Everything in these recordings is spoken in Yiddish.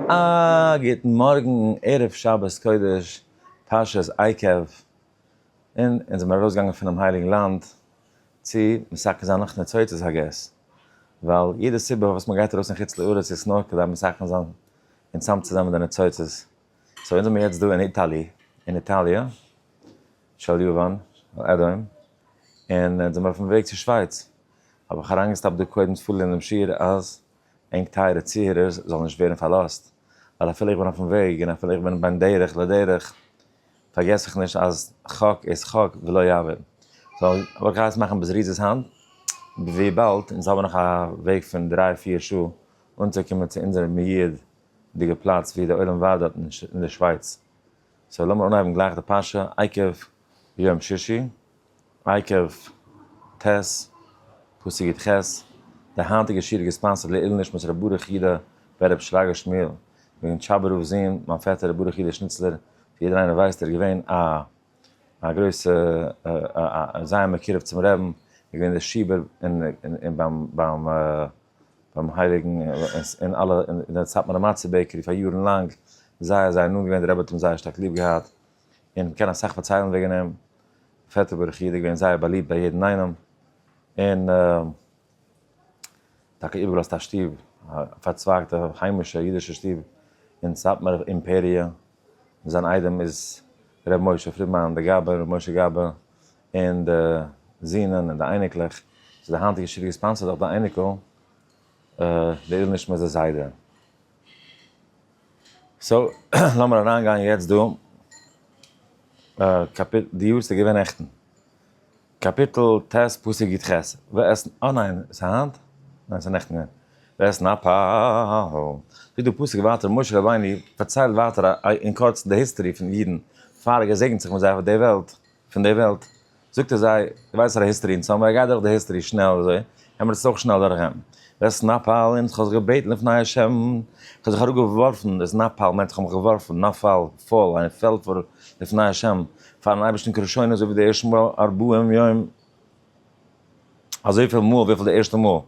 א גוטן מארגן ערב שבת קודש פרשת עקב, און אונז זעמיר ארויסגעגאנגען פונעם הייליגן לאנד צו מסכם זיין נאך ניצוצות הג ס, ווייל יעדע סיבה פארוואס מען גייט ארויס אין חוץ לארץ איז נאר כדי מסכם זיין און צאם צו זיין מיט די ניצוצות, סאו אונז זעמיר יעצט דא אין איטאלי, אין איטאליע של יוון אדום, און אונז זעמיר אויפן וועג צו שווייץ, האב איך אריינגעסטאפט דא קודם צו פארלערנען דעם שיעור אז ענק טייערע צוהערערס זאלן נישט ווערן פארלאזט, ווייל אפילו איך בין אויפן וועג און אפילו איך בין בין דרך לדרך, פארגעס איך נישט אז חק איז חק ולא יעבור. סאו וואלט איך געהייסן מאכן בזריזות היינט, וויבאלד אונז האבן נאך א וועג פון דריי פיר שעה אנצוקומען צו אונזער מיעדיגע פלאץ ווי די עולם ועד האט אין די שווייץ. סאו לאמיר אנהייבן גלייך די פרשה עקב יום שישי, עקב ט, פסוק יט ח, די היינטיגע שיעור איז געספאנסערד לעילו נשמת ר' ברוך יודא ב ר רבי שרגא שמואל בן טשאבא רב ז ל, מיין פעטער ר' ברוך יודא שניצלער, ווי יעדער איינער ווייסט איז ער געווען א א גרויסע א א זייער מקורב צום רעבן, איז געווען דער שיבער אין ביים ביים. ביים הייליגן אין אלע אין די סאטמארע מצה בעקערי פאר יארן לאנג, זייער זייער נאנט געווען, די רבי האט אים זייער שטארק ליב געהאט, און מען קען אסאך פארציילן וועגן אים, פעטער ברוך איד איז געווען זייער באליבט ביי יעדן איינעם, און טאקע איבערגעלאזט א שטוב, א פארצווייגטע היימישע אידישע שטוב אין סאטמאר אימפעריע, זיין איידעם איז ר' משה פרידמאן דער גאבע, ר' משה גאבע, און די זינען און די אייניקלעך, ס'איז די היינטיגע שידוך געספאנסערט דורך די אייניקל, די עילוי נשמת די זיידע. סאו, לאמיר אריין גיין יעצט דא, קאפיטל, די יארצייט איז געווען נעכטן, קאפיטל ט' פסוק י ח, ואת נ, אה ניין, ס'איז היינט? ניין ס'איז נעכטן געווען, ואת נ פ ה, זאגט די פסוק ווייטער משה רבינו פארציילט ווייטער אין קורצן די היסטערי פון אידן פאר ער געזעגנט זיך מיט זיי אויף די וועלט, פון די וועלט, זאגט ער זיי, דו ווייסט אז די היסטערי אין סאמווער, גיי דורך די היסטערי שנעל אזוי, קען מען עס אויך שנעל דורך גיין, דער סנאפאל אונז כ'האב זיך געבעטן לפני השם, כ'האב זיך אראפ געווארפן, דער סנאפאל מיינט כ'האב מיך געווארפן, נפל, פאל, איין פעלט פאר לפני השם, פארן אייבערשטן כראשונה אזוי ווי די ערשטע מאל ארבעים יום, אזויפיל מאל וויפיל די ערשטע מאל,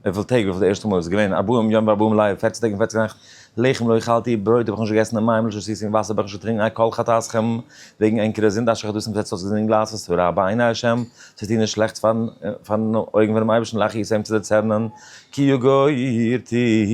וויפיל טעג וויפיל די ערשטע מאל איז געווען, ארבעים יום וארבעים לילה, פֿערצן טעג און פֿערצן נעכט, לחם לא אכלתי, ברויט האב איך נישט געגעסן און מים לא שתיתי און וואסער האב איך נישט געטרינקן, על כל חטאתכם, וועגן ענקערע זינד אשר חטאתם זעצט אויס געזינגען גלייכט וואס רע בעיני השם, צו טון איז שלעכטס פארן פארן אויגן פונעם אייבערשטן להכעיס אים צו דערצערנען, כי יגורתי,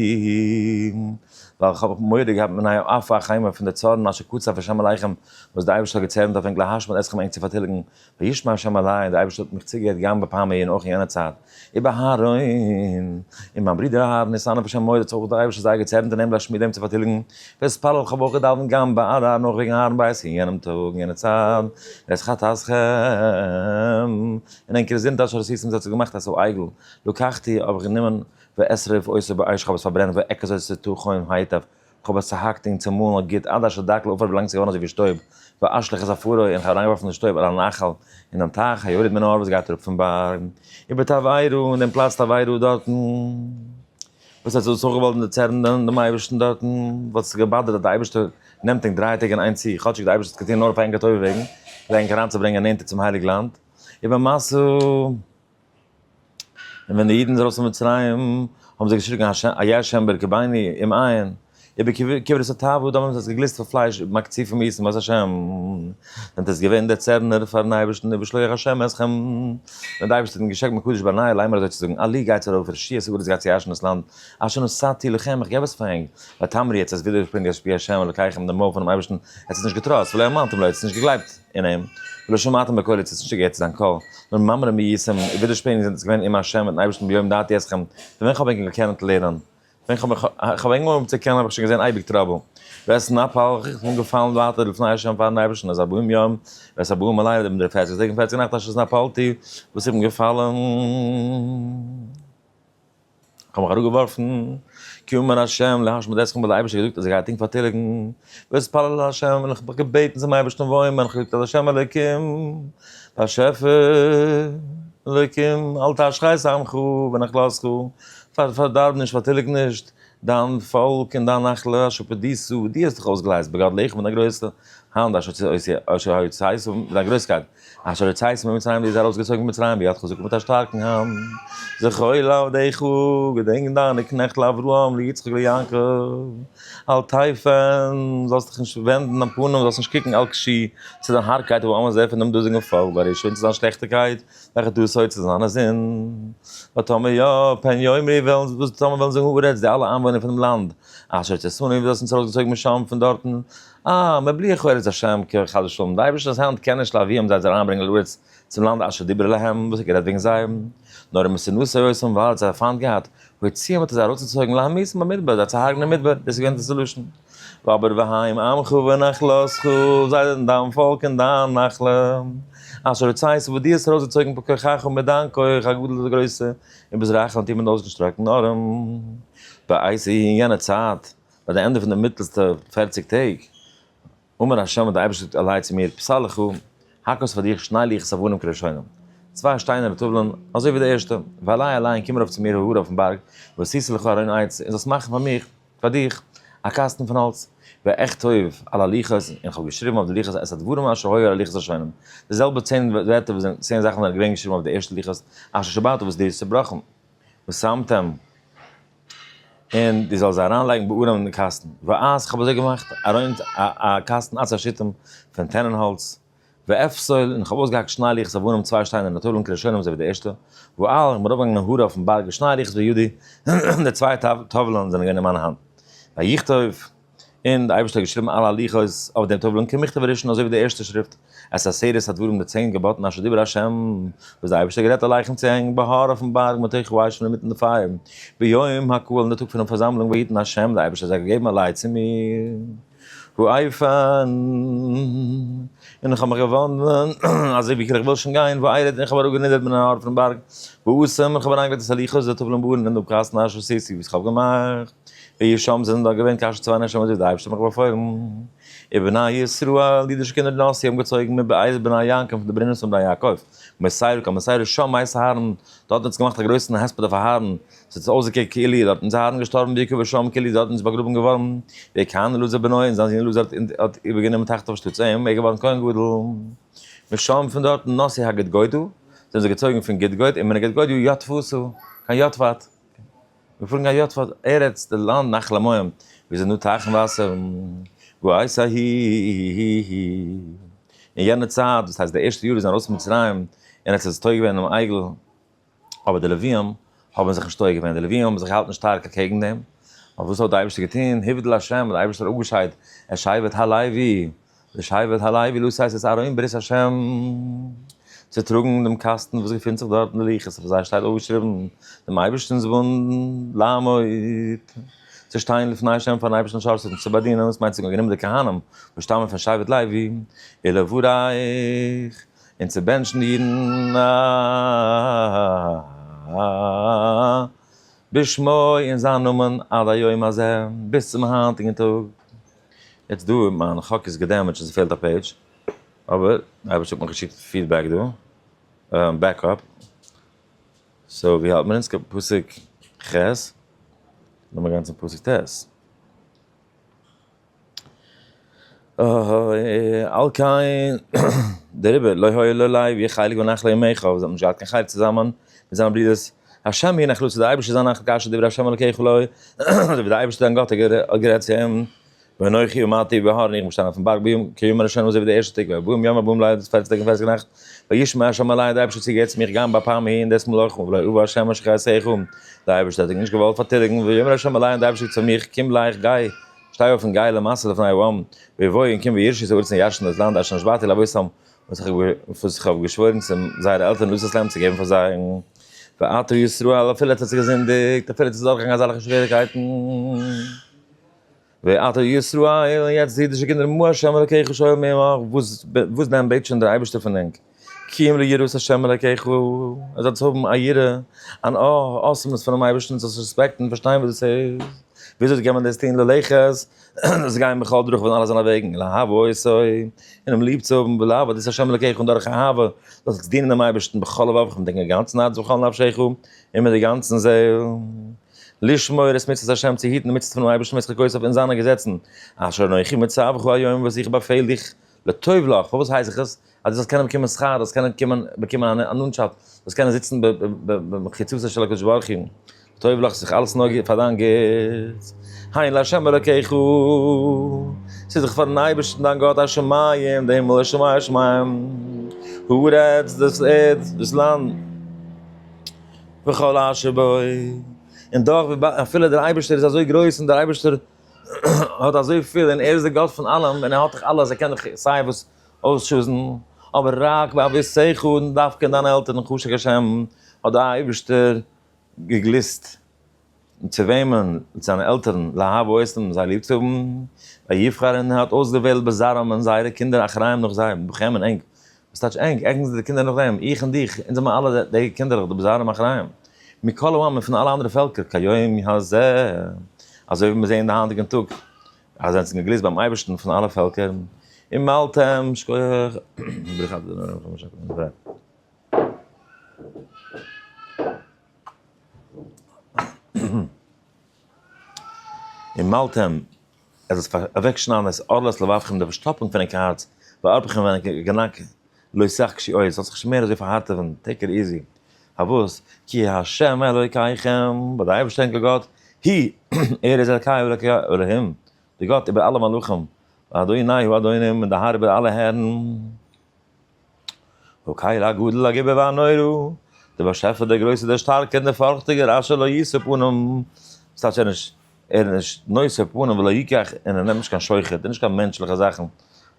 ווייל איך האב מורא געהאט מפני עוף החיים און פון די צארן אשר קצף השם עליכם וואס דער אייבערשטער האט געצערנט אויף ענק להשמיד אתכם ענק צו פארטיליגן וישמע השם אלי, דער אייבערשטער האט מיך צוגעהערט גם בפעם ההיא און אויך אין יענער צייט, איבער אהרן, און מיין ברודער אהרן איז סנוור בשם מרת האט זיך אויך דער אייבערשטער זייער געצערנט און אים להשמיד אים צו פארטיליגן, ואתפלל כ'האב אויך געדאוונט גם בעד אהרן אויך וועגן אהרן בית אין יענעם טאג אין יענער צייט, ווערט חתס ח' און ענקער איז זונטאג שרת יצים זיי צו געמאכט א סוה עגל, לקחתי האב איך גענומען ואשרף עושה באש כ'האב עס פארברענט ואקז עושה תו חוים היטב, כ'האב עס צוהאקט און צומאלן אויף גוט עד אשר דק לעפר ביזלאנג עס איז געווארן אזוי ווי שטויב, ואשליך את עפרו און כ'האב אריינגעווארפן די שטויב על הנחל אין דעם טייך היורד מן ההר וואס גייט אראפ פון בארג איבער תבערה און דעם פלאץ תבערה דארטן וואס ער האט זיך דאס אויך געוואלט דערצערן דעם אייבערשטן דארטן וואלט עס געבאדערט אז דער אייבערשטער נעמט ענק דריי טעג אין איין צי כאטשיג דער אייבערשטער האט עס געטון נאר אויף ענקער טובה וועגן כדי ענק אריינצוברענגען נענטער צום הייליג לאנד איבער מסע. און ווען די אידן זענען ארויס פון מצרים, האבן זיי געשריגן איה ה' ברכי בני אם עיין, איבער כברת התאווה, דאן האבן זיי עס געגליסט פון פלייש איבער מקציפים איסן בית ה', ווען דאס איז געווען דער צערנער פארן אייבערשטן איבער שלוח השם עסכם, ווען דער אייבערשטער האט אים געשענקט מקדש בני, ליימער אזוי צו זאגן, אלי גייטס ארויף און רשיעס ארץ גייטס יאשן דאס לאנד, אשר נשאתי לכם, איך געב עס פאר ענק, ותאמרי יעצט עס ווידערשפרינגען עס פי ה' אלקיכם דעם מויל פונעם אייבערשטן, עטס עס נישט געטראסט, ולא האמנתם לו, עטס עס נישט געגלייבט. אין אים, ולא שמעתם בקולי צו האסט נישט געהערט צו זיין קול, נאר ממררים ביעצם, און ווידערשפענונג זענט עס געווען עם ה' מיטן אייבערשטן ביום דעתי אתכם, פון ווען כ'האב ענגעל געקענען צו לערנען, ווען כ'האב מיך כ'האב אנגעהויבן צו קענען האב איך שוין געזען אייביג טראבל, ווער עס נפל איך איך בין געפאלן ווייטער לפני ה' פארן אייבערשטן אז ארבעים יום, ווער עס ארבעים לילה דעם די פערציג טאג און פערציג נאכט אשר נפלתי וואס איך בין געפאלן. כ'האב מיך אראפגעווארפן, קום און השם להשמיד אתכם האט דער אייבערשטער געזאגט אז ער גייט ענק פארטיליגן, ואתפלל אל השם און איך האב מיך געבעטן צום אייבערשטן וואויל מיין, כ'האב געזאגט אז השם אלוקים באשעפער אלוקים אל תשחית עמך ונחלתך, פארדארב נישט פארטיליג נישט דיין פאלק און דיין נחלה אשר פדיסו, דו האסט דיך אויסגעלייזט בגדליך מיט דיין גרויסע האנט אשר הוציאתיך מיט דיין גרויסקייט. אשר יצאתכם פון מצרים דו ביסט ארויסגעצויגן פון מצרים ביד חזקה מיט א שטארקן האנט, זכור לעבדיך, געדענק דיינע קנעכט לאברהם ליצחק ליעקב, אל תיפן, זאלסט דיך נישט ווענדן דיין פנים, זאלסט נישט קוקן אל קשי, צו דיין הארבקייט אויף אמער זר פון דעם דאזיגן פאלק ברשע און צו זיין שלעכטיקייט וועלכע טוט עשה צו זיינע זין, ותאמר יא, פן יאמרי וועלן וואס טאמער וועלן זאגן הארץ די אלע איינוואוינער פון דעם לאנד, אשר יצאתנו וואס דו האסט אונז ארויסגעצויגן משם פון דארטן, אה, מבלי חו ארץ השם כ חס ושלום, די אייבערשטענס האנט קען נישט להביאם זיי זיי אריינברענגען לארץ צום לאנד אשר דיבר אלהם, וואס האט גערעדט וועגן זיי? נאר אמת שנאת ה' אויסן ווייל האט זיי פיינט געהאט, הוציאם האט ער זיי ארויסגעצויגן להמית אין במדבר זיי צו הרג'נען אין מדבר, דאס איז געווען די סעלושען. ואבער והעם עמך ונחלתך, זיי זענען דיין פאלק און דיין נחלה, אשר הוצאתיך וואס דו האסט ארויסגעצויגן בכוחך מיט דיין כח הגדול די גרויסע, און ביז רחל און תימן אויסגעשטראקטן ארעם. בעת אי יענע צייט. ביי די ענדע פון די מיטלסטע פערציג טעג, אמר ה' האט דער אייבערשטער געזאגט אליי צו מיר, פסל לך, האק אויס פאר דיך שני לוחות אבנים כראשונים, צוויי שטיינערנע טובלען, אזוי ווי די ערשטע, ועלי אליין קום ארויף צו מיר ההר אויפן בארג, ועשיתי לך ארון עץ, און זאלסט מאכן פאר מיך, פאר דיך, א קאסטן פון האלץ, ואכתוב על הלוחות, און איך האב געשריבן אויף די לוחות את הדברים אשר היו על הלוחות הראשונים, די זעלבע צען ווערטער וואס זענען, צען זאכן זענען געווען געשריבן אויף די ערשטע לוחות אשר שבעת וואס דו האסט צעבראכן, ושמתם. און דו זאלסט זיי אריינלייגן בארון אין קאסטן, ואז איך האב אזוי געמאכט, ארויף א קאסטן עצי שיטים פון טענען האלץ, ואפסול, און איך האב אויסגעהאקט שניי ליכטס אויף בארון צוויי שטיינער מיט טובלן כלשונם אזוי ווי די ערשטע, ואל, איך בין ארויפגעגאנגען אין הרה אויפן בארג און שניי ליכטס בידי, און די צוויי טובלן זענען געווען אין מיינע האנט, ויכתוב. און דער אייבערשטער האט געשריבן אלע הלכות אויף דעם טובל'ן כמכתב הראשון אזוי ווי די ערשטע שריפט את עשרת הדברים די צען געבאטן אשר דיבר ה' וואס דער אייבערשטער האט גערעדט עליכם צו הענגן בהר אויפן בארג מיט אייך ווייס שוין אינמיטן די פייער ביום הקהל אין די טאג פונעם פארזאמלונג ויתן ה' דער אייבערשטער זאל געבן א לייט צו מיר ואופן און איך האב מיך געוואנדן אזוי ווי איך וויל שוין גיין וארד און איך האב אראפגענידערט מיט נאר פונעם בארג ואשם און איך האב אריינגעלייגט את הלכות די טובל'ן בארון אין דעם קאסטן אשר עשיתי וואס איך האב געמאכט. ווי שם זענען דאן געווען קאשע צוויי נעשמות ווי די אייבערשטער האט מיך באפוילן. און בני ישראל, אידישע קינדער די נאסי האבן געצויגן מבית בני יעקב פון די ברונעמס פון בני יעקב, מסעירה קיין מסעירה שם מאת אהרן, דארט האט זי געמאכט א גרויסן הספד אויף אהרן, ס'האט זיך אויסגעקוקט כאילו איז דארטן זיי אהרן געשטארבן ויקבר שם כאילו איז דארטן איז באגראבן געווארן ווי כהן אלעזר בנו און זיין זון אלעזר האט איבערגענומען תחתיו שטאטס און ער איז געווארן כהן גדול. משם פון דארטן נאסי הגדגודו, זענען זיי געצויגן פון גדגוד און מן הגדגודו יטפתו קיין יטפת. מיר פארן גיין יו ט פאר ארץ די לאנד נחל המים ווי עס איז נאר טייכן וואסער וואו הייס א הי הי הי אין יענע צייט דאס הייסט די ערשטע יאר ווי זיי זענען ארויס פון מצרים און עס איז עס טויע געווען דעם עגל אבער די לווים האבן זיך נישט טויע געווען די לווים האבן זיך געהאלטן שטארק אקעגן דעם אבער וואס האט די אייבערשטער געטון הבדל השם די אייבערשטער האט אפגעשיידט ער שיידט הלוי לשבט הלוי לוסי הייסט עס ארום בעזרת השם צו טראגן דעם קאסטן וואס געפינט זיך דארט אין לוחות אויף זיי שטייט אויפגעשריבן דעם אייבערשטנ'ס וואונד לעמוד צו שטיין לפני השם פארן אייבערשטן א שעה צו צו באדינען וואס מיינט צו גענומען די כהנים וואס שטאמען פון שבט לוי אלא וואו רייך און צו בענטשן די אידן בשמו אין זיין נאמען עד היום הזה ביז צום היינטיגן טאג. יעצט דא מיין חק איז געדעמעדזשט און ס'פעלט א פעידזש, אבער די אייבערשטער האט מיך געשיקט פידבעק דא, בעקאפ, סאו ווי האלט מיר אונז? כ פסוק ח'? לאמיר גיין צום פסוק ט'. אההה על כן דעריבער לא היה לו לייב יהיה חלק בנחלה עמך, זיי האבן נישט געהאט קיין חלק צוזאמען מיט זיינע ברודערס השם יהיה נחלתו, די אייבערשטער זאל נחת כאשר דברי השם אלקיך לו, אזוי ווי די אייבערשטער דיין גאט האט גערעדט צו אים, ואנכי עמדתי בהר, און איך בין געשטאנען אויפן בארג ביום כי יום הראשון אזוי ווי די ערשטע טאג, ויבום יום הבאים ליידער פארטיגס טאג און פסח נאכט, וישמע השם אלי, די אייבערשטער האט צוגעהערט צו מיך גם ביי פעם ההיא און דאס מאל אויך, ולא אבא השם אשר חייתיך, די אייבערשטער האט דיך נישט געוואלט פארטיליגן, ויאמר השם אלי, און די אייבערשטער זאגט צו מיך, קום גלייך, גיי, שטיי אויף און גיי למסע לפני העם, ויבואו און קום וירשו את הארץ און ירשן דאס לאנד אשר נשבעתי לאבותיכם, וואס איך האב געשוואוירן צו זייערע עלטערן לויס אסלאם צו געבן פאר זיי, ואתו ישראל, אפילו עס האט זיך געזינדיגט, אפילו עס איז דורכגעגאנגען אזעלכע שוועריקייטן, ואתו ישראל, יעצט די אידישע קינדער, מה ה' אלקיך שואל מעמך, וואס דען בעט שוין דער אייבערשטער פון ענק, קום ליראת ה' אלקיך, אז זאלסט האבן א יראה, אן אויך אסמות פונעם אייבערשטן, זאלסט רעספעקטן, פארשטיין וואס דאס איז, וויאזוי קען מען דאס טון ללכת, און זיי גייען בכל דרכיו אין אלע זיינע וועגן, לאהבו אותו, און אים ליב צו האבן, ולעבוד את השם אלוקיך, און דורך אהבה, זאלסט זיך דינען דעם אייבערשטן בכל לבבך, מיט דיין גאנצן הארץ ובכל נפשך, און מיט די גאנצן זעל, לשמור את מצוות השם, צו היטן די מצוות פונעם אייבערשטן ואת חוקותיו און זיינע געזעצן, אשר אנכי מצווך היום וואס איך באפעל דיך, לטוב לך, פארוואס הייס איך עס? אז דו זאלסט קענען באקומען שכר, דו זאלסט קענען קומען באקומען אן אננשאפט, דו זאלסט קענען זיצן במחיצתו של הקדוש ברוך הוא, טוב לך, ס'איז דאך אלעס נאר פאר דיין גוטס, הנה לה' אלקיך, ס'איז דאך פאר'ן אייבערשטן דיין גאט א שמים, די הימל, השמים השמים, הארץ, דאס ערד, דאס לאנד, וכל אשר בו, און דאך, אפילו דער אייבערשטער איז אזוי גרויס און דער אייבערשטער האט אזויפיל און ער איז דער גאט פון אלעם און ער האט דאך אלעס, ער קען דאך סיי וואס, אויסשוזן, אבער רק באבי שיחו און דווקא אין דיינע עלטערן חשק השם האט די אייבערשטער געגליסט צו וועמען, צו דיינע עלטערן, לאהב אותם זיי ליב צו האבן, ויבחר און ער האט אויסדערוועלט בזרעם אין זייערע קינדער אחראים נאך זיי, בכם און ענק, וואס טייטש ענק? ענק זענען די קינדער נאך דעם, איך און דיך, אונז זענען אלע די קינדערלעך די בזרעם אחראים, מכל אומות פון אלע אנדערע פעלקער כהיום הזה, אזוי ווי מיר זעען די היינטיגן טאג אז זיי זענען געגליסט ביים אייבערשטן פון אלע פעלקער, און מ'האלט אים, שכוח, ברכת דרך. און מ'האלט אים, ער זאל זיך אוועקשניידן את ארלת לבבכם די פארשטאפונג פונעם קארץ, וארפכם ווען ער גענאקט. לא ישחק שי אוי עס זאל זיך נישט מער אזוי פארהארטעווען, טעיק איט איזי, פארוואס, כי ה' אלוקיכם, ווייל דער אייבערשטער אונזער גאט, היא, ער איז אלקיי ואלוקי אלהים, דער גאט איבער אלע מלכים, ואדוני הוא אדונים, און דער האר איבער אלע הערן, האלקיל הגדול הגובר והנורא, דער באשעפער דער גרויסער דער שטארקער און דער פארכטיגער אשר לא יסור פניו, וואס טייטש ער איז נישט. ער איז נישט נושא פנים ולא יקח און ער נעמט נישט קיין שוחד און נישט קיין מענטשליכע זאכן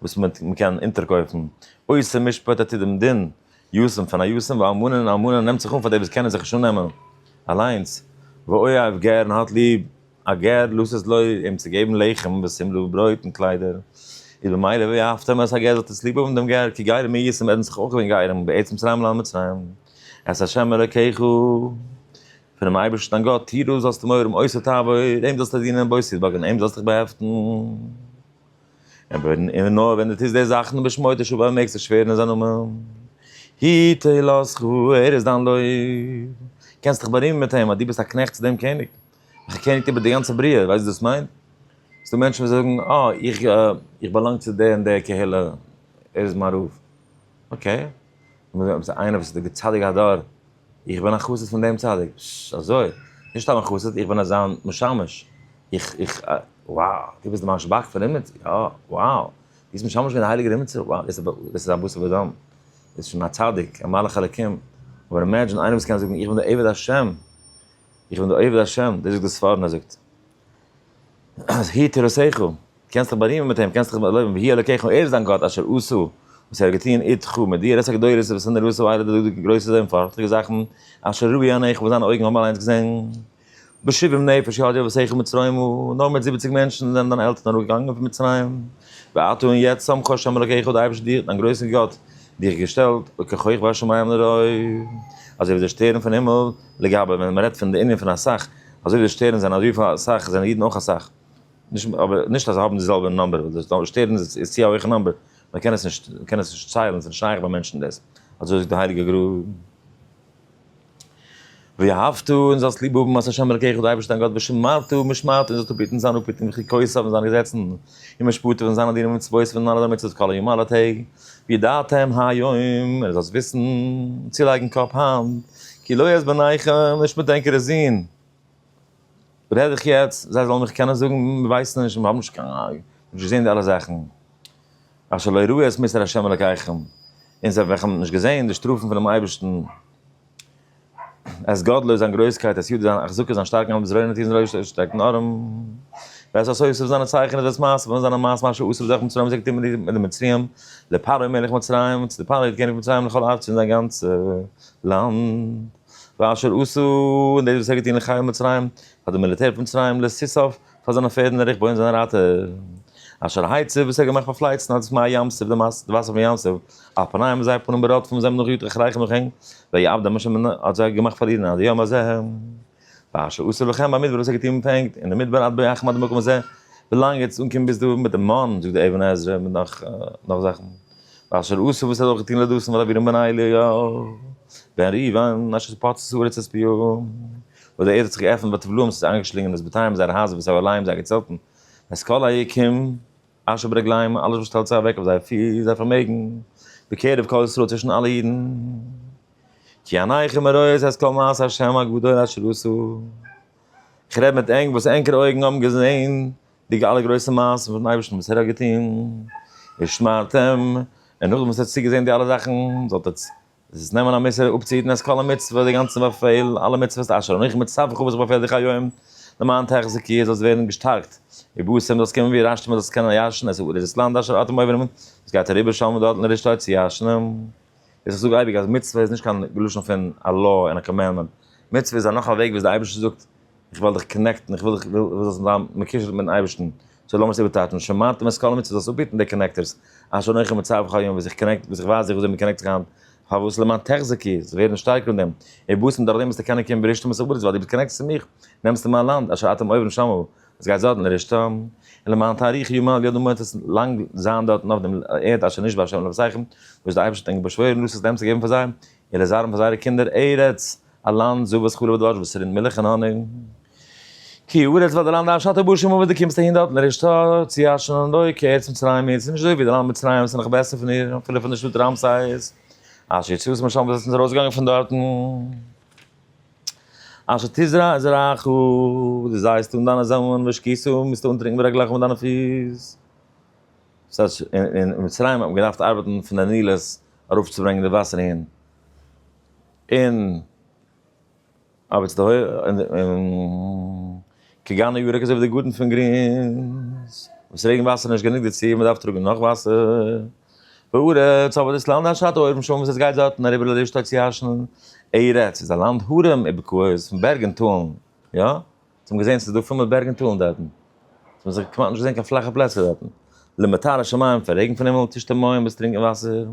וואס מען קען אונטערקויפן, עושה משפט עתיד דעם דין יושם פון א יושם ואלמנה און אלמנה נעמט זיך אן פאר די וואס קענען זיך נישט אננעמען אליינס, ואוהב גר און האט ליב א גר לאז עס לו אים צו געבן לחם ושמלה וברויט און קליידער, איז במילא ואהבתם את הגר זאלט עס ליב האבן דעם גר, כי גרים מי ישם ער האט זיך אויך געווען גרים בעת מצרים לעלם מצרים את השם אלקיך. פונעם אייבערשטן דיין גאט, טו דאס זאלסטו מורם עושה תעבור, אים זאלסטו דינען און בושת בגרון, אים זאלסטו דיך באהעפטן, און נאר ווען דו טוסט די זאכן בשמו תשוב און מעגסט שווערן אין זיין נאמען, היא תהילתך, ער איז דיין לויב, קענסט דיך בארימען מיט אים אז דו ביסט א קנעכט צו דעם קעניג, וועלכער קעניגט איבער די גאנצע בריאה, ווייסט וואס דאס מיינט? ס'איז דא מענטשן וואס זאגן, אה, איך באלאנג צו די און די קהילה, ער איז מיין רב, אקעי, איינער וואס איז דער צדיק הדור. איך בין א חסיד פון דעם צדיק. ש, אזוי? נישט סתם א חסיד, איך בין זיין משמש. איך, איך, wow, דו ביסט די מאן שבח פון אימעצער? יא, wow, דו ביסט משמש געווען די הייליגער אימעצער? wow, דאס איז דאס איז א בשר ודם, דאס איז שוין א צדיק, א מלאך אלקים. אבער אימעדזשין איינער וואס קען זאגן, איך בין די עבד השם, איך בין די עבד השם, דאס זאגט די ספרנה זאגט, אז הי' תורתך, קענסט זיך בארימען מיט אים, קענסט זיך לויבן וה' אלקיך ער איז דיין גאט אשר עשה, וואס ער האט געטון איד ך מיט דיר, עשה גדולות וואס און ער עשה איידער די דאזיגע גרויסע זען פארכטיגע זאכן, אשר ראו עיניך וואס דיינע אויגן האבן אליינס געזען, בשבעים נפש יהודיו ושכל מצרימו, נאר מיט זיבעציג מענטשן זענען דיינע עלטערן אראפ געגאנגען פון מצרים, ועתה און יעצט שמך השם אלקיך האט די אייבערשטער דיך, דיין גרויסער גאט, דיך געשטעלט, וככוכב השמים לרוב, אזוי ווי די שטערן פון הימל, לגבי ווען מען רעדט פון די ענין פון אסאך, אזוי ווי די שטערן זענען אזויפיל אסאך זענען אידן אויך אסאך, נישט אבער נישט אז זיי האבן די זעלבע נאמבער וויל דאס דארט שטערן איז צו א הויכע נאמבער מען קען עס נישט מען קען עס נישט ציילן ס'נישט שייך ביי מענטשן דאס אזוי זאגט די הייליגע גרא ואהבתו און זאלסט ליב האבן את השם אלקיך די אייבערשטער דיין גאט ושמרתו משמרתו און זאלסט אפהיטן זיין אפהיטונג וחוקותיו און זיינע געזעצן און משפטיו און זיינע דינים ומצוותיו און אלע זיינע מצוות כל היום אלע טעג וידעתם היום און זאלסט וויסן צולייגן קאפ היינט כי לא יעזבנאיכם נישט מיט ענקערע זין רעד איך יעצט זיי זאלן מיך קענען זאגן מיר ווייסן נישט מיר האבן נישט קיין אייג נישט געזען די אלע זאכן אשר לא יראו את מסר השם אלקיכם און זיי וועלכע האבן נישט געזען די שטראפן פונעם אייבערשטן את גדלו זיין גרויסקייט את ידו זיין החזקה זיין שטארקן האנט בזרועו נטיר זיין אויבערשטער שטארקן ארעם ווער עשה יוסף זיינע צייכענען ווער עס מעשה ווען זיינע מעשה מאשר אסר דרך מצרים זיי געטון מיט די מצרים לפרעה מלך מצרים צו די פרעה קעניג פון מצרים לכל ארץ פון זיין גאנצע לאנד. ואשר עשו, און דאס וואס ער האט געטון לחיל מצרים, פאר די מיליטער פון מצרים, לסיסוף, פאר זיינע פערד און די רכבו און זיינע רייטער, אשר העצב, וואס ער האט געמאכט פארפלייצן אז מי הים סוף די מאסן, די וואסער פון ים סוף, אויף פניהם און זייער פנים ברודפם זיי האבן נאך געגאגט רחרחם נאך אים, ויעבדם השם און האט זיי געמאכט פארלירן עד היום הזה, ואשר עשו לכם במדבר, וואס ער האט געטון מיט ענק אין די מדבר עד בואכם עד למקום הזה, ווילאנג עטס אנקומען ביז דא מיט די מן, זאגט די אבן עזרא מיט נאך זאכן. ואשר עשה וואס ער האט געטון לדוסן ולאבירם און בן אליהו בן ריוון אשר פוצץ הארץ את פיהם וואס די ערד האט זיך געעפנט ביי תבלום ס'איז איינגעשלינגען דאס בתיהם זייערע הייזער ואת אוהליהם זייערע צעלטן ואת כל היקים אשר ברגליהם אלעס וואס שטעלט זיך אוועק אויף זייער פיס זייער פארמעגן בקרב כל ישראל צווישן אלע אידן כי עיניכם הרואות את כל מעשי השם הגדול אשר עשו איך רעד מיט ענק וואס ענקערע אויגן האבן געזען די אלע גרויסע מעשים פונעם אייבערשטן וואס ער האט געטון, ער שמרט אים, און נאכדעם וואס ער האט צוגעזען די אלע זאכן, זאל עטץ עס נעמען א מוסר אפצוהיטן את כל המצוות, די גאנצע באפעל, אלע מצוות אשר אנכי מצווך וואס איך באפעל דיך היום, למען תחזיק כי זאלסט ווערן געשטארקט, ובשם זאלסט קומען ווי רשתים און זאלסט קענען ירשן את ארץ דאס לאנד אשר אתם עוברים, דאס גייט אריבער שלמא דאתמא לרשתה צו ירשן. איז איך זאג אייביג אז מצוה איז נישט קיין לשון פון א law און א קאמענדמענט, מצוה איז א נאך א וועג וויאזוי דער אייבערשטער זאגט איך וועל דיך קאנעקטן, איך וויל דיך, איך וויל זאלסט זיין מקושר מיטן אייבערשטן, סאו לאמיר עס איבערטייטשן, שמרתם את כל המצוות, זאלסט אפהיטן די קאנעקטערס, אשר אנכי מצווך היום, וואס איך קאנעקט, וואס איך ווייז דיך וויאזוי מען קאנעקט זיך היינט, פארוואס למען תחזקי, זאלסט ווערן שטארק אין דעם, און בוסן דורכדעם וועסטו קענען קומען בראשית המסעודת ווייל דו ביסט קאנעקטעד צו מיך, נעמסט מיין לאנד, אשר אתם עוברים שם, עס גייט זאטן דער רשתה, און למען תאריך ימיו ידו מועט עס לאנג זיין דארטן אויף דעם ערד אשר נשבע השם לאבותיכם, וואס דער אייבערשטער האט ענק באשוואוירן לוסעס דעם צו געבן פאר זיי, און לזרען פאר זייערע קינדער, ארץ, א לאנד, זבת חלב ודבש, וואס ס'רינט מילך און האניג. כי ארץ ווייל דער לאנד אשר אתה בא שמה וואס דו קומסט אהין דארטן דער רשתה, צו אש און האניג, כארץ מצרים איז, ס'איז נישט אזוי ווי דער לאנד מצרים, ס'איז נאך בעסער פון איר, אפילו פון דער שטאט רעמסס, אשר יצאתם משם וואס זיי זענען ארויסגעגאנגען פון דארטן. אשר תזרע זרעך, וואס דו זייסט אן דיינע זעמלען ושקיסם וועסטו אנטרינקען ברגליך מיט דיינע פיס. ס'הייסט אין מצרים האט מען געדארפט ארבעטן פון די נילוס ארויפצוברענגען די וואסער אהין, און ארבעטס די הויעך און כגן ירק אזוי ווי די גארטן פון גרינס, וואס רעגן וואסער איז נישט גענוג דערצו, מען דארף טראגן נאך וואסער. בארץ, אבער דאס לאנד אנשטאט אויבן שוין וואס עס גייט דארטן אריבער לויט די שטאט צו הרש'ן ארץ, איז א לאנד הרים ובקעות פון בערג און טאלן, יא? אונז האבן געזען ס'איז דא פול מיט בערג און טאלן דארטן, ס'האט מען זיך כמעט נישט געזען קיין פלאכע פלעצער דארטן, למטר השמים פון רעגן פון הימל תשתה מים וועסט טרינקען וואסער,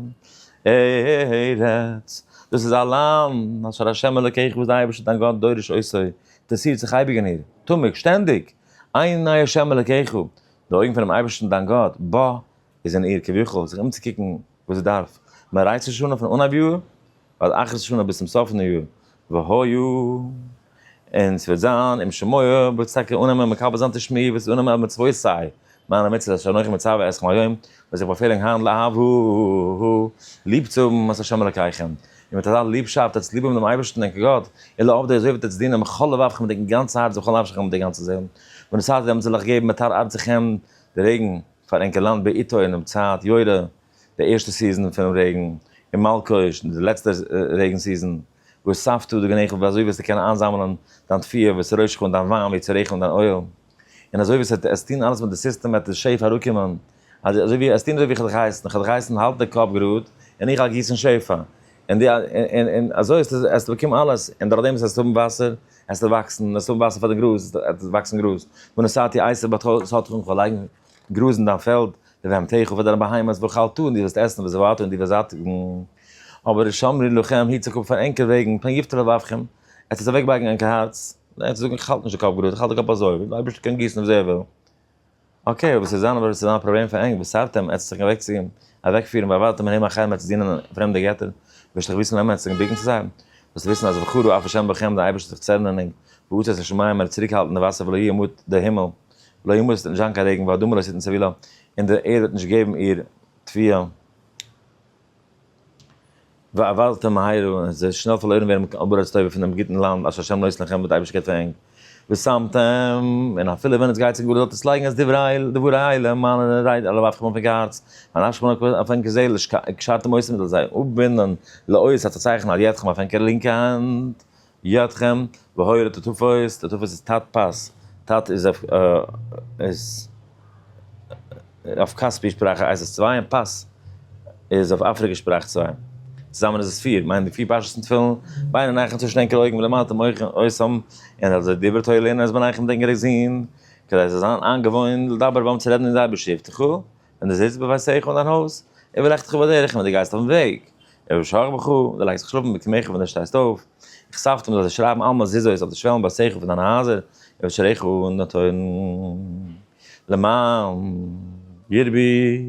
ארץ, דאס איז א לאנד אשר השם אלקיך וואס די אייבערשטער דיין גאט דורש אויס איר, אינטערעסירט זיך אייביג אין איר, תמיד, שטענדיג, עיני השם אלקיך, די אויגן פונעם אייבערשטן דיין גאט, בה, איז אין איר כביכול זיך אומצוקוקן וואס זי דארף מען ראש השנה פון אנהייב יאר ועד אחרית השנה ביז צום סוף פון די יאר והיו און ס'וועט זיין אם שמוע וועט זי טאקע אננעמען מקבל זיין תשמעי וועט זי אננעמען מצוות סיי מיינע מצוות אשר אנכי מצוה אתכם היום וועל זיך באפעלן היינט לאהבהו ליב צו האבן את השם אלקיכם און מיט אזא ליבשאפט וועטס ליב האבן דעם אייבערשטן דעם גאט אילו אויף די אזוי וועטס דינען בכל לבבכם מיט די גאנצע הארץ ובכל נפשכם מיט די גאנצע זעהל ווען עס הייסט ווען מען זאל אייך געבן מטר ארצכם די רעגן. פאר ענקער לאנד בעיתו אינעם צייט יורה, די ערשטע סיזען פונעם רעגן, און מלקוש, די לעצטע רעגן סיזען, והוספתא דגנחה ווי אזוי וועסטו קענען איינזאמלען דיין תפילה וועסט רוישך אן דיין וויין ווי צו רעכענען דיין אויל, און אזוי ווי עסט טון אלעס מיט די סיסטעם וועט די שפע אראפקומען, אזוי ווי עסט טון אזוי ווי איך האב דיך געהייסן, איך האב דיך געהייסן האלט די קאפ גראד, און איך גיסן שפע, און אזוי עסטו באקומען אלעס, און דורכדעם וואס עסט האבן וואסער עס זאל וואקסן, עס זאל וואסער פאר די גראז, עס זאל וואקסן גראז, ונשאתי עשב בתך ושאתך עמך, לייגן גראז אין דיין פעלד, לבהמתך פאר דיינע בהמות, ואכלתו און דו וועסט עסן, ושבעתו און דו וועסט זאטיגן, אבער שמרי לכם, היט זיך אפ פאר ענקער וועגן, פן יפתה לבבכם, עס וועט אוועקבייגן ענקער הארץ, ענק וועט זאגן איך האלט נישט די קאפ גראד, איך האלט די קאפ אזוי, וויל די אייבערשטער קען גיסן ווי אזוי ער וויל. אקעי אויב עס וועט זיין אבער עס וועט זיין א פראבלעם פאר ענק וסרתם עצתכם אוועקצוגיין אוועקפירן ווייל ווארט מהם אחרי מ'העט זיך דינען פרעמדע געטער וועסט דאך וויסן אמת זיך בוקן צו זיי זאלסט וויסן אז וחדו אף השם בכם די אייבערשטער זיך צערנען ענק ועוצת השמים ער וועט צוריקהאלטן די וואסער ולא ימוט די הימל לא ימוט עס וועט נישט זיין קיין רעגן והאדמה לא תתן סבילה און די ערד וועט נישט געבן איר תביעה. ואבלתם מהירא, און זיי שנעל פארלוירן ווערן מיט קיין ארץ טובה פון דעם גוטן לאנד אשר ה' נותן לכם וואס די אייבערשטער געבט פאר ענק, ושמתם, און אפילו ווען עס גייט צו גבול זאלט עס לייגן אז דברי אלה מיינע רייד אלע ווארפן אויף ענקער הארץ, און אנאפ שפאנען אויף אויף ענקער זעל, קשרתם אויס מיט זיי, אפבינדן, לאות, אלס א צייכן על ידכם אויף ענקער לינקע האנט, יתכן, והויה לטטפות, טטפות איז טת פס, טת איז אויף כספי שפראך הייסט עס צוויי און פס איז אויף אפריקע שפראך צוויי, צוזאמען איז עס פיר, מיינט די פיר פרשת אין תפילין, ביינער נייכן צווישן ענקער אויגן ולמטה מוחין עושים, און אז די דברי תורה לערנען אז מ'נייכן דעם גרעזין, כדי עס זאל זיין איינגעוואוינט לדבר בם צו רעדן אין זייער בשבתך. און דו זיצט בביתך אן דיין הויז, און ווען לכתך בדרך, און ווען דו גייסט אויפן וועג, און ושכח בך, און דו לייגסט זיך שלאפן בקמך ווען דו שטייסט אויף, איך ספטום זאל זיי שרייבן אלע מזוזות אויף די שוועלן ביתך פון דיינע הייזער, און ושעריך און די טויערן, למען ירבי,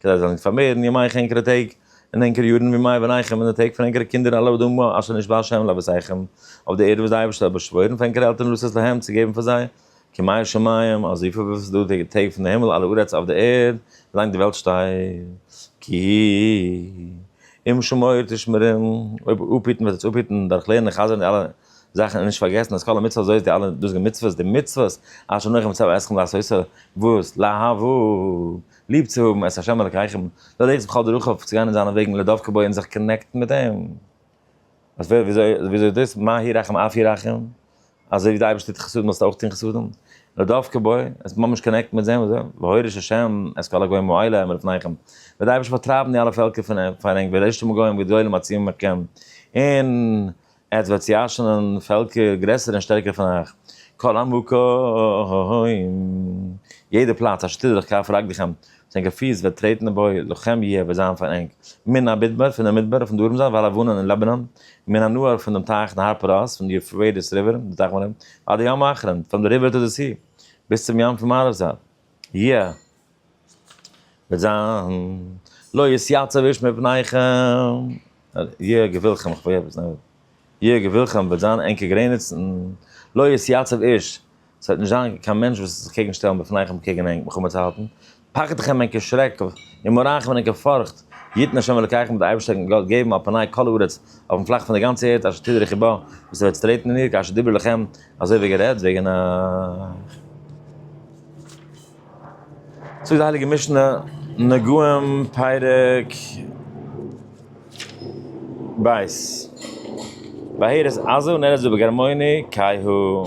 כדי זיי זאלן נישט פארמערן ימיך ענקערע טעג, און ענקערע יארן מימי בניכם, און די טעג פון ענקערע קינדער על האדמה אשר נשבע ה' לאבותיכם, אויף די ערד וואס דער אייבערשטער האט באשוואוירן פאר ענקערע עלטערן לעשות להם, צו געבן פאר זיי, כמים שמים, אזוי פיל ווי עס איז דא די טעג פון די הימל אלע ארץ אויף די ערד, ווי לאנג די וועלט שטייט, כי אם שמור תשמרם, אויב אפהיטן וועט עטס אפהיטן, דורך לערנען און חזר'ן די אלע זאכן און נישט פארגעסן אז כל המצוות הזאת די אלע דאזיגע מצוות די מצוות אשר אנכי מצוה אתכם לעשות וואס לאהבו ליב צו האבן את השם אלקיכם ללכת בכל דרכיו צו גיין אין זיינע וועגן לדבקה בו און זיך קאנעקטן מיט אים, אז ווער וויאזוי וויאזוי איז דאס מה הירחם אף ירחם אזוי ווי די אייבערשטער טוט חסדים זאלסטו אויך טון חסדים, נאר דווקא בו, עס האט ממש קאנעקט מיט זען וואס דער הויער איש השם, את כל הגוים האלה העמד לפניכם, וועט די אייבערשטער פארטרייבן די אלע פעלקער פון אים, פאר ענק וועט ערשטומען גוים גדולים עצומים מכם, און עטס וועט צעיאשענען פעלקער גרעסערע און שטערקערע פון אייך, כל המקום, יעדע פלאץ אשר תדרך כף רגליכם, זיין געפיס וועט טרעטן אין בוי, לכם יהיה וועט זיין פאר ענק, מן המדבר, פון דער מדבר, פון דרום זייט, ועל לבנון, און לבנון, מן הנהר, פון דעם טייך, נהר פרת, פון די יופרייטיס ריווער, די טייך מירון, ועד הים האחרון, פראם די ריווער טו די סי, ביז צום ים פון מערב זייט, יהיה וועט זיין, לא יתייצב איש מפניכם, יהיה גבולכם, כ'ווארט, יהיה גבולכם וועט זיין ענקער גרעניצן, לא יתייצב איש. עס וועט נישט זיין קיין מענטש וואס וועט זיך קעגן שטעלן בפני חם קעגן ענק מלחמה צו האלטן, פחד חם ענק איז שרעק, און מורא חם ענק איז פארכט, יתן השם אלקיכם וועט דער אייבערשטער ענק גאט געבן על פני כל הארץ, אויפן פלאך פון דער גאנצער ערד אשר תדרכי בה, וואס איר וועט צוטרעטן אין איר, כאשר דיבר לכם, אזוי ווי גערעדט וועגן אייך. זאגט די הייליגע משנה, נגעים פרק ב', בהערת עזה ונערץ בו בגרמוני קאי הוא.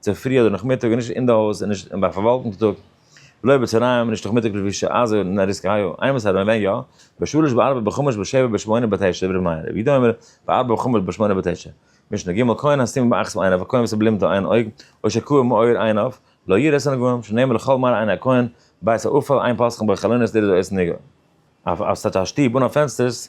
צופרי אדער נאכמיטאג איז נישט אין די הויז און נישט אין ביי פארוואלטונג טאג, לא בצהריים נישט נאכמיטאג לפי ש א זאגן נאר ריסק היו, איין וואס ארום ווען יא, בשלש בארבע בחמש בשבע בשמונה בתשע ורב מאיר רבי יהודה אומר בארבע בחמש בשמונה בתשע, משנה ג' כהן הסימן באחת מעין אויף א כהן וואס האט בלינדע איין אויג, או שכו ע מאור עין אויף, לא ירא את הנגעים, שנאמר לכל מראה עיני הכהן, בית האופה, איין פסחים ביי חלונות דער איז אויס נגע. אויף סטאטש א שטוב אן א פענסטערס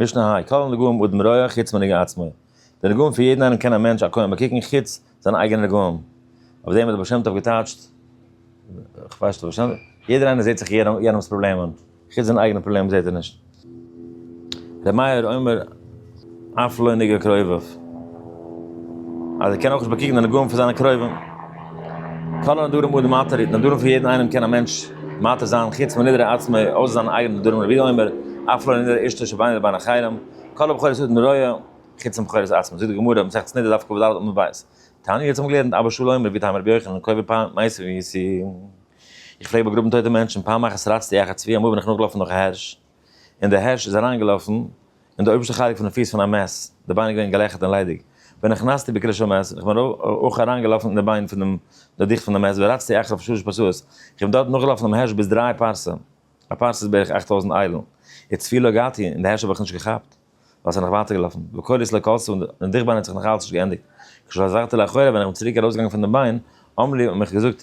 משנה היי, כל הנגעים אדם רואה חוץ מנגע עצמו, די נגעים פון יעדן איינעם קען א מענטש א כהן באקוקן חוץ זיינע אייגענע נגעים, אויף דעם האט דער בעל שם טוב געטייטשט, יעדער איינער זעט זיך יענעמ'ס פראבלעמען, חוץ זיינע אייגענע פראבלעמען זעט ער נישט. ר' מאיר אומר אף לא נגע קרוביו. אז ער קען אויך נישט באקוקן די נגעים פון זיינע קרובים. כל הנדרים הוא דמעתר, די נדרים פון יעדן איינעם קען א מענטש מעתר זיין, חוץ מנדרי עצמו, אויסער זיינע אייגענע נדרים, רבינו אומר, אף לא לנדר אשתו שביני לבין אחרים, כל הבחורות היו דמרויו, חוץ מבחורות עצמן, זאגט די גמרא, מסכת נדה, דף קפ ד עמוד ב', תענית, יעצט האבן מיר געלערנט, אבא שאול אומר, ווי טעם רבי יוחנן, קובע פאר מעשים ווי סי', איך פלעג באגראבן טויטע מענטשן, פעם אחת רצתי אחר צבי, אמאל בין איך נאכגעלאפן נאך א הערש, און דער הערש איז אַרײַנגעלאָפֿן אין דער אויבערשטער חלק פֿון די פֿיס פֿון אַ מעז, די בײן איז געווען געלעכערט און ליידיק. ונכנסתי בקרש המעז, און איך בין אויך אַרײַנגעלאָפֿן אין די בײן פֿון דעם דערדיכטן פֿון דער מעז, ורצתי אחריו שלש פּרסאות, איך בין דאָרט נאָכגעלאָפֿן דעם הערש ביז דרײַ פּרסה, אַ פּרסה איז בערך אַכט טויזנט איילן, וצבי לא הגעתי, און די הערש האָב איך נישט געכאַפּט, ווײַל ס'איז נאָך ווײַטער געלאָפֿן, וקולות לא קלטו, און די דיכבײן האָט זיך נאָך אַלץ נישט געענדיקט, כשחזרתי לאחור, ווען איך בין צוריק אַרויסגעגאַנגען פֿון דעם בײן, אמרו לי, האָבן מיך געזאָגט,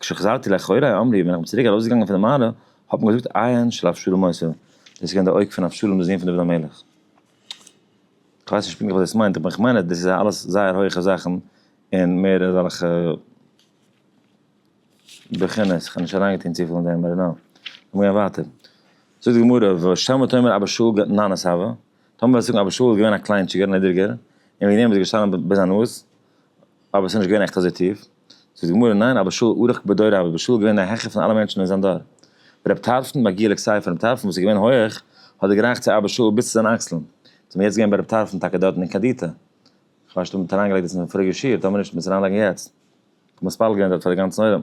כשחזרתי לאחורי אמרי, ווען איך בין צוריק ארויסגעגאנגען פון די מערה, האט מען געזאגט עיין של אבשלום עשה, דאס איז געווען די אויג פון אבשלום די זון פון דוד המלך. כ'ווייס נישט פונקטליך וואס דאס מיינט, אבער איך מיין אז דאס איז אלעס זייער הויכע זאכן, און מער אזעלכע בחינות, כ'האב נישט אריינגעטון צופיל אין דעם ביי נאו. לאמיר גיין ווייטער. זאגט די גמרא, ושמע תאמר אבא שאול געט נאנעס הבה, טאמער וועסטו זאגן אבא שאול איז געווען א קליינטשיגער נידעריגער, און וועגן דעם איז ער געשטאנען ביז א נאז, אבער ס'איז נישט געווען עכט אזוי טיף. זאגט די גמרא, ניין, אבא שאול ארוך בדוריו, אבא שאול איז געווען דער העכער פון אלע מענטשן אין זיין דור. רב טרפון, מגיע לכסייפה, רב טרפון וואס איז געווען הויעך, האט גערייכט צו אבא שאול ביז צו זיין אקסלען. זעמיר יעצט געווען ביי רב טרפון טאקע דארטן אין קעדיטא. כ'מיין שוין מ'האט אריינגעלייגט דאס אין פאריגע שיעור, טאמער נישט מוז אריינלייגן יעצט. כ'האב מתפלל געווען דארט פאר די גאנצן עולם.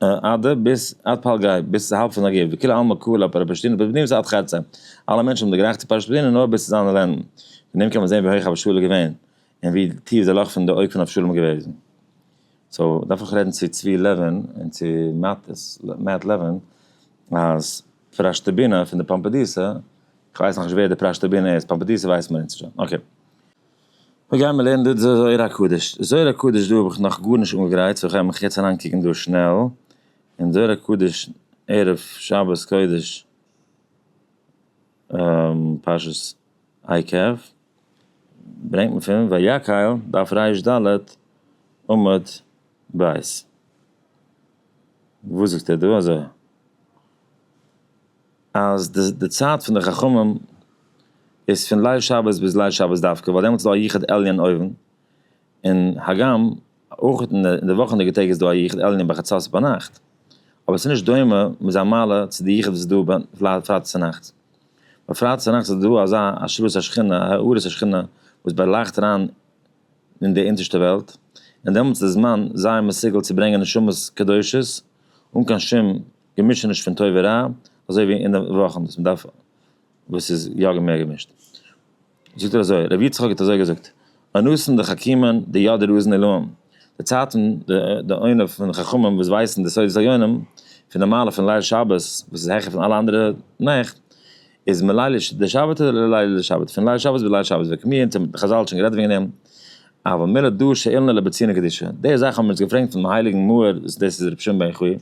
עד ביז עד פלגי, ביז צו האלב פון נגיב, וכולי עלמא קרא לה פרשת פדינא, פרשת פדינא איז עד חצה, אלע מענטשן האבן דערגרייכט צו פרשת פדינא נאר ביז צו זיינע לענדן, פון דעם קען מען זען ווי הויך אבשלום איז געווען, און ווי טיף די לאך פון די אויג פון אבשלום איז געוועזן. סאו דארף איך רעדן צו צבי לעווין און צו מעט לעווין אז פרשתפדינא פון די פאמפעדיסא, כ'ווייס נאכנישט ווער די פרשתפדינא איז, פאמפעדיסא ווייסן מיר אונז שוין, אקעי. אויב גייען מיר לערנען דא די זוהר הקדוש, די זוהר הקדוש דא האב איך נאך גארנישט אנגעגרייט סאו כ'גיי מיך יעצט אריינקוקן דא שנעל אין זוהר הקדוש ערב שבת קודש פרשת עקב ברענגט מען פון ויקהל דף רש ד עמוד ב' וואס זאגט ער דא אזוי. אז די די צייט פון די חכמים איז פון ליל שבת ביז ליל שבת דווקא ווייל דעמאלטס איז דא א יחוד עליון אויבן, און הגם אויך אין די אין די וואכענדיגע טעג איז דא א יחוד עליון בחצות ביינאכט, אבער עס איז נישט דומה מיט זיין מעלה צו די יחוד וואס איז דא ביי פרייטאג צונאכטס, ביי פרייטאג צונאכטס איז דא אזא השראת השכינה, א הארת השכינה, וואס באלייכט אריין אין די אונטערשטע וועלט, און דעמאלטס איז די זמן זייער מסוגל צו ברענגען נשמות קדושות אן קיין שום. געמישעניש פון טוב און רע, אזוי ווי אין די וואכן וואס מ'דארף וואס איז יא מער געמישט. זאגט ער אזוי, ר' יצחק האט אזוי געזאגט, אנוסן די חכימען די יאדער אוזן עילאם, די צייטן די עונה פון די חכמים וואס ווייסן די סודות העליונים, פון די מעלה פון ליל שבת וואס איז העכער פון אלע אנדערע נעכט, איז מליל לשבתא לליל לשבת, פון ליל שבת ביז ליל שבת, ווען כמי אונטער מיט חזל האט שוין גערעדט וועגן דעם, אבל מילא דא שאילנא לבצינא קדישא, די זאך האבן מיר אונז געפרענגט פונעם הייליגן מהר א, דאס איז רבי שמעון בן יוחאי,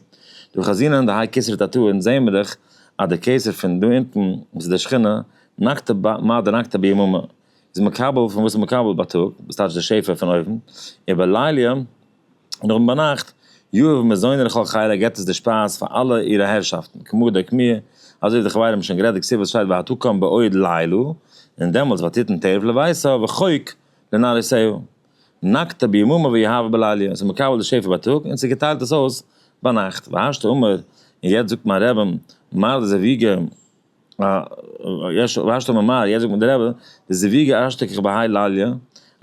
דא חזינן דהאי כסרא תתא אונז זעהן מיר דאך אז דער קיסר פון דא אונטן וואס איז דער שכינה נקטה ב מא דנקטה ביממה איז מקבל פון וואס איז מקבל בייטאג וואס טייטש די שפע פון אויבן, און בלילה. און אויבן ביינאכט, יואב מזוני לכל חייליו געבט עס די שפייז פאר אלע אירע הערשאפטן, כמו דער קמיע, אזוי ווי די חברים האבן שוין גערעדט די כסדר שטייט והתקום בעוד לילה, און דעמאלטס ותתן טרף לביתו וחוק לנאריסיו, נקטה ביממה ויהבה בליליה, ס'איז מקבל די שפע בייטאג און ס'געטיילט עס אויס ביינאכט, והשתא אמר, און יעצט זאגט מיין רעבין מרדכי זאב יגר, יש ואשתו ממעל, יעצט זאגט מיר דער רבי, די זיוויגע אשתקד בהאי לליא,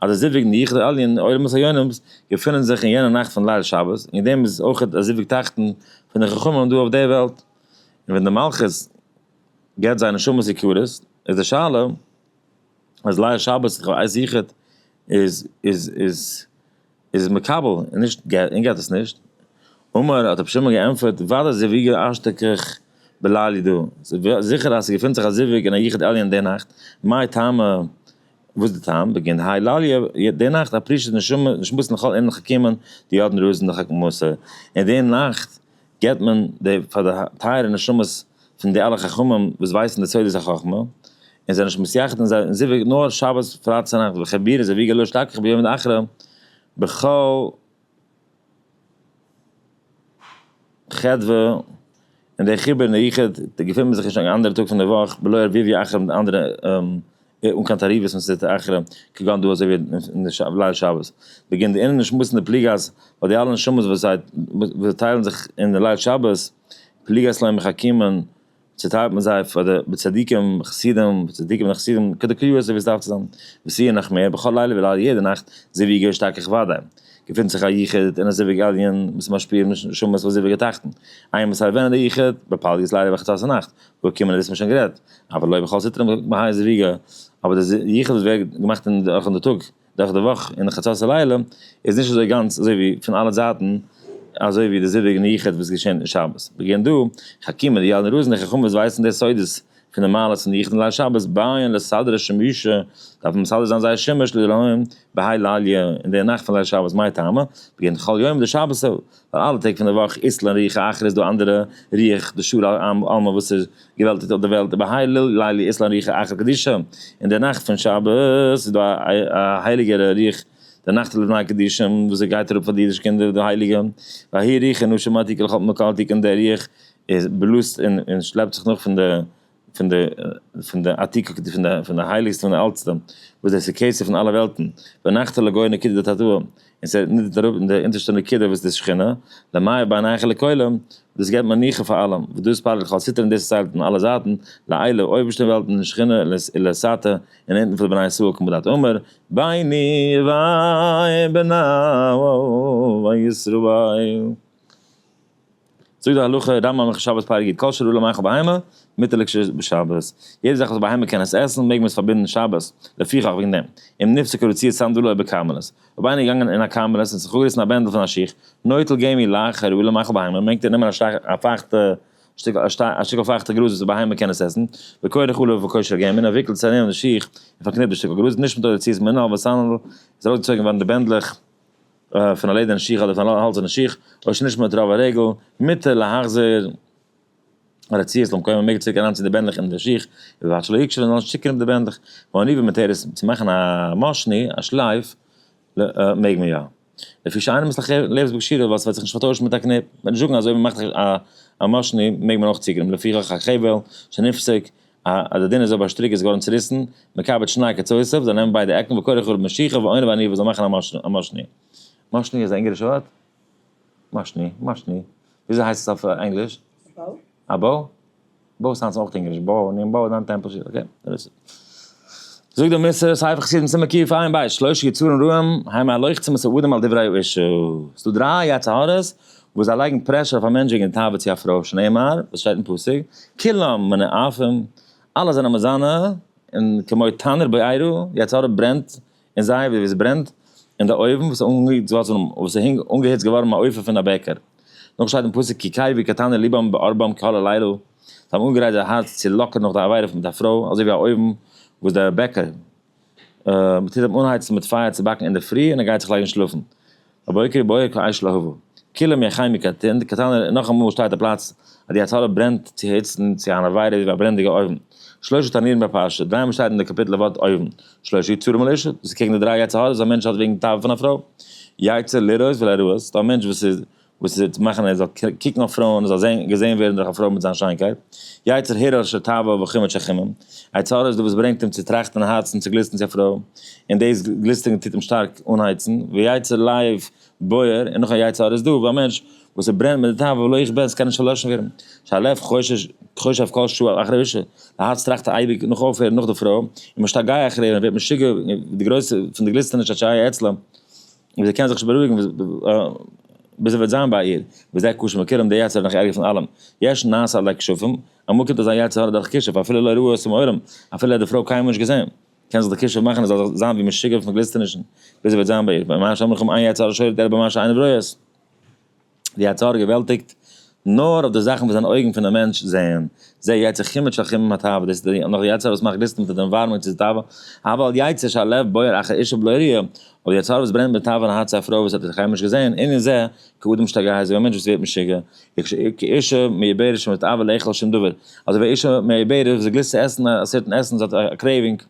אז די זיווג ניחא עלין עולמות העליונים געפונען זיך אין יענע נאכט פון ליל שבת, און דעם איז אויך א זיווג תחתון פון די חכמים דא אויף די וועלט, און ווען די מלכות געבט זיי נשמות יקרות, איז די שאלה אז ליל שבת איז איז איז. איז מקבל און נישט געט און געט עס נישט, אמר האט רבי שמעון געענטפערט ודאי זיוויגו אשתקח בלילי דא, ס'איז זיכער אז ס'געפינט זיך א זיווג אין א יחיד עליון די נאכט, מאי טעמא וואס איז די טעם, בגין דהאי לליה די נאכט א פרישע נשמה נשמתן לכל ענין חכימא דידן רוזין דחכמותא, אין די נאכט געבט מען די פאר די טייערע נשמות פון די אלע חכמים וואס ווייסן די סודות החכמה, און זיי זענען נישט מסייעת'ט אין זיי און זיווג נאר שבת פריי צונאכטס וכ' בירא זיווג געלוי שתכח ביום מן אחרי בכל חדוה און די חיבור אין די יחוד געפינט מען זיך נישט אן אנדערע טאג פון די וואך בלא ערביביא אחר מיט אנדערע אן קיין תערובות מסתתר אחרא, כגון דא אזוי ווי אין די ליל שבת בגין די אינערלישע שמועס אין די פליגאס, ווייל די אלע נשמות וואס זיי וואס טיילן זיך אין די ליל שבת פליגאס לוי מחכימען, צוטיילט מען זיי פאר די צדיקים חסידים, צדיקים און חסידים כדקריאה אזוי ווי עס דארף צו זיין, וסי' נחמיה בכל לילה ווי ליידער יעדע נאכט, זיוויגי השתכח וודאי, געפינט זיך א יחוד אין א זיווג עליון וואס איז משפיע נשמות פון זיווג התחתון, איינמאל ס'איז ארווען אין די יחוד, בפלגות ליידער בחצות הנאכט, וואו קומען דאס האט מען שוין גערעדט, אבל לא בכל סטרא מהאי זוויגא, אבער דער יחוס וואס ווערט געמאכט אין דורך אין די טאג, דורך די וואך אין חצות הלילה, איז נישט אזוי גאנץ אזוי ווי פון אלע זייטן, אזוי ווי די זיווג און יחוד וואס געשען אין שבת. וועגען דא, חכימא די יעלען רוזינער חכמים וואס ווייסן די סודות פון די מעלות פון די יחוד און ליל שבת בייען לסדר השמשה, דארפן מסדר זיין זייער שמש ליל הוים בהאי לליה, אין די נאכט פון ליל שבת מאי טעמא, וועגען כל יום די שבת ווייל אלע טעג פון די וואך איסלען און ריח האחר איז דא אנדערע ריח די שור עלמה וואס איז געוועלטיגט אויף די וועלט איבער הלל לילה איסלען ריח האחר קדישא און די נאכט פון שבת איז דא א הייליגער ריח די נאכט לפני קדישא וואס עס גייט אראפ פאר די אידישע קינדער די הייליגע וההיא ריחי נשמתי כל חלתי קלתי און די ריח איז בלאזט און שלעפט זיך נאך פון די. פון די פון די עתיקא קדושה פון די פון די הייליגסטע פון די אלטסטע וואס דאס איז קעצער פון אלע וועלטן ונחת על הגאון נקודת התורה און ס'הערט נידערט אראפ אין די אונטערשטע נקודה וואס די שכינה למאיר בעיניך לכל עם דאס געבט מנוחה פאר אלעם וואס דאס פאר לכל סטרא און דאס איז ציילט אין אלע זייטן לעילה אויבערשטע וועלטן אין שכינה לעשאתה און אונטן פאר די בני ישראל כמו דאתו אמר ביני וביניו וישראל. זאגט די הלכה, רמב ם הלכות שבת פרק יט, כל שרעו למאכל בהמה, מותר לכשר'ס בשבת. יעדע זאך וואס בהמה קען עס עסן, מעג מען עס פארבינדן שבת, לפיכך וועגן דעם, אם נפסקה רצועת סנדלו אויב בכרמלית, אויב איינער איז געגאנגען אין א כרמלית און זיך אפגעריסן א בענדל פון א שיך, נוטל גומי לה כשרעו למאכל בהמה, מעג ער נעמען א פייכטע שטיק, א שטיקל פייכטע גראז וואס בהמה קען עס עסן, וקורא חלב וקורא שרעי גומי, און ער וויקלט עס ארום די שיך און פארקניפט די שטיקל גראז, נישט מותר רצועת מנהל וסנדל, איז ארויסגעצויגן געווארן די בענדלעך. פון א לעדערנע שיך אדער פון א האלצערנע שיך, אויב ס'איז נישט מיט רוב הרגל, מותר להחזיר הרציעס למקומו, מען מעג צוריק אריינציען די בענדלעך אין די שיך, ובלבד שלא יקשו און זאלן נישט צוקרימפן די בענדלעך, ואני ומתרס, צו מאכן א משני, א שלייף, מעג מען יא. לפי שאינו מסתכך לעבס בקשירא, ווייל ס'וועט זיך נישט פארטוישן מיט א קניפ, וועט נישט זאגן אז אויב מ'מאכט א משני מעג מען אויך צוקרימפן, לפיכך הכבל שנפסק, א אז די דינער זויבער שטריק איז געווארן צוריסן, מקבץ שניי כצוסף, זאל נעמען ביידע עקן וקורא חרוב משיחא ועונה ועניו און זאל מאכן א מאשני. מאשני איז א אונגארישע ווארט? מאשני, מאשני. וויאזוי הייסט עס אויף ענגליש? א באו? באו איז היינט אויך אונגאריש, באו, ניין באו איז היינט טעמפל שיט, אקעי, דעטס איט. זאגט דער מס' ספר חסידים סימן קיף עיין ב', שלושה יצורים רעים, היימער הלוחצים את האדם על דברי האישה. ס'דא דריי יצר הרע'ס, וואס זיי לייגן פרעשור אויף א מענטש וועגן די תאווה צו א פרוי, שנאמר, וואס שטייט אין פסוק, כולם מיני עפים, אלע זענען מיט זיינע, און כמו תנור בעירו, ווי א צרור ברענט אין זייער, ווי עס ברענט אין די אויוון, וואס איז אנגעהיצט געווארן אין א אופן פון א בעקער. נאך שטייט אין פסוק, כי קרבו כתנור לבם בערבם כהל הלילה, זיי האבן אנגעגרייט זייער הארץ צו לאקען נאך די עבירה מיט א פרוי, אזוי ווי א אויוון וואס דער בעקער, מ'טוט אים אנהייצן מיט פייער צו באקן אינדערפרי און ער גייט זיך לייגן שלאפן. בבוקר בוער כאש להבה. כולם יא חי מקטן, די קטן איז נאך אמאל שטארק די פלאץ אז די התחלה ברענט צו היצט און צו אן עבירה איז ווי א ברענדיגע אויוון. שלושה תנין בפרשה, דריי מאל שטייט אין די קאפיטל די ווארט אויוון. שלושה יצורים על אשה, דאס איז קעגן די דריי יצר הרע וואס א מענטש האט וועגן תאווה פון א פרוי. יצר לראות ולהראות, ס'דא א מענטש וואס איז. וואס עס וועט מאכן ער זאל קוקן אויף פרויען, ער זאל זען געזען ווערן דורך א פרוי מיט זיין שיינקייט, יצר הרע אשר תאווה וחומץ שכימים, א יצר הרע איז דאס וואס ברענגט אים צו טראכטן און האצן צו גליסטן צו א פרוי, און דאס גליסטערן טוט אים שטארק אנהייצן, ויצר לב בוער, און נאך א יצר הרע איז דא ביי א מענטש וואס ער ברענט מיט די תאווה ולא יכבה און עס קען נישט פארלעשן ווערן, שהלב חושב כל שעה אחרי האישה, די הארץ טראכט אייביג נאך אויפהערן נאך די פרוי, ומשתגע אחריה און ווערט משוגע פון די גרויסע פון די גליסטערניש אשר היה אצלו, און ווי זי קען זיך נישט בארואיגן ביז ער וועט זיין ביי איר, וזה קשה מכולם, דער יצר האט נאך ערגער פון אלעם, יש נס עלי כישופים, אמאל קומט אזא יצר הרע דורך א כישוף, אפילו לא ראו אותו מעולם, אפילו ער האט די פרוי קיינמאל נישט געזען, קען זיך די כישוף מאכן ער זאל זיין ווי משוגע פון גליסטענישן, ביז ער וועט זיין ביי איר, ממש אמאל קומט איין יצר הרע שולט ער במה שאינו ראוי את. די יצר הרע געוועלטיגט נאר אויף די זאכן וואס דיין אויגן פונעם מענטש זעען, זע יצר חימד של חימם התאווה, דאס איז נאך די יצר הרע וואס מאכט ליסטן פון די ווארמונג צו די תאווה, אבל יצר שהלב בוער אחר אישה בלא ראיה, אבער די יצר הרע וואס ברענט מיט תאווה אין הארץ צו א פרוי וואס האט בחיים נישט געזען, ענין זה, כאדם שתגע אזוי ווי א מענטש וואס ווערט משוגע, כאישה מעוברת שמתאווה לאכול שום דבר, אזוי ווי א אישה מעוברת וואס איז געלוסט צו עסן א סערטן עסן, זי האט א קרעיווינג,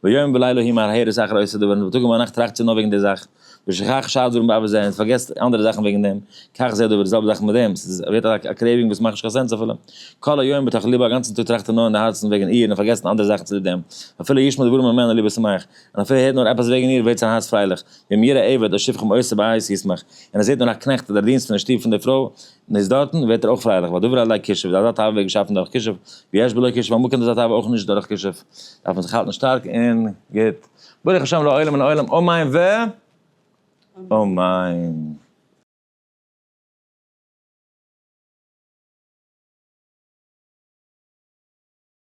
ויום ולילה היא מהרהרת אחר עושה דבר, און ביי טאג און ביי נאכט טראכט זי נאר וועגן די זאך. ושכח שאר דברים בעבר זה, און פארגעסט אנדערע זאכן וועגן דעם, כך זה הדבר, די זעלבע זאך מיט דעם, ס'איז ווערט א א קרעיווינג וואס מאכט נישט קיין סענס אפילו, כל היום בתוך ליבו, א גאנצן טאג טראכט ער נאר אין די הארצן וועגן איר און פארגעסן אנדערע זאכן צוליב דעם, אפילו ישמע דברים ממנה ליבו שמח, און אפילו ער הערט נאר עפעס וועגן איר ווערט זיין הארץ פרייליך, ואם יראה עבד או שפחם עושה בעי' ישמח, און ער זעט נאר א קנעכט אדער א דינסט פון די שטוב פון די פרוי און איז דארטן, ווערט ער אויך פרייליך, והדבר עלי כישוף, אזא תאווה ווערט געשאפן דורך כישוף, ויש בלא כישוף, אמאל קומט אזא תאווה אויך נישט דורך כישוף, דארף מען זיך האלטן שטארק און גוט. ברוך השם לעולם מן העולם אמן ואמן.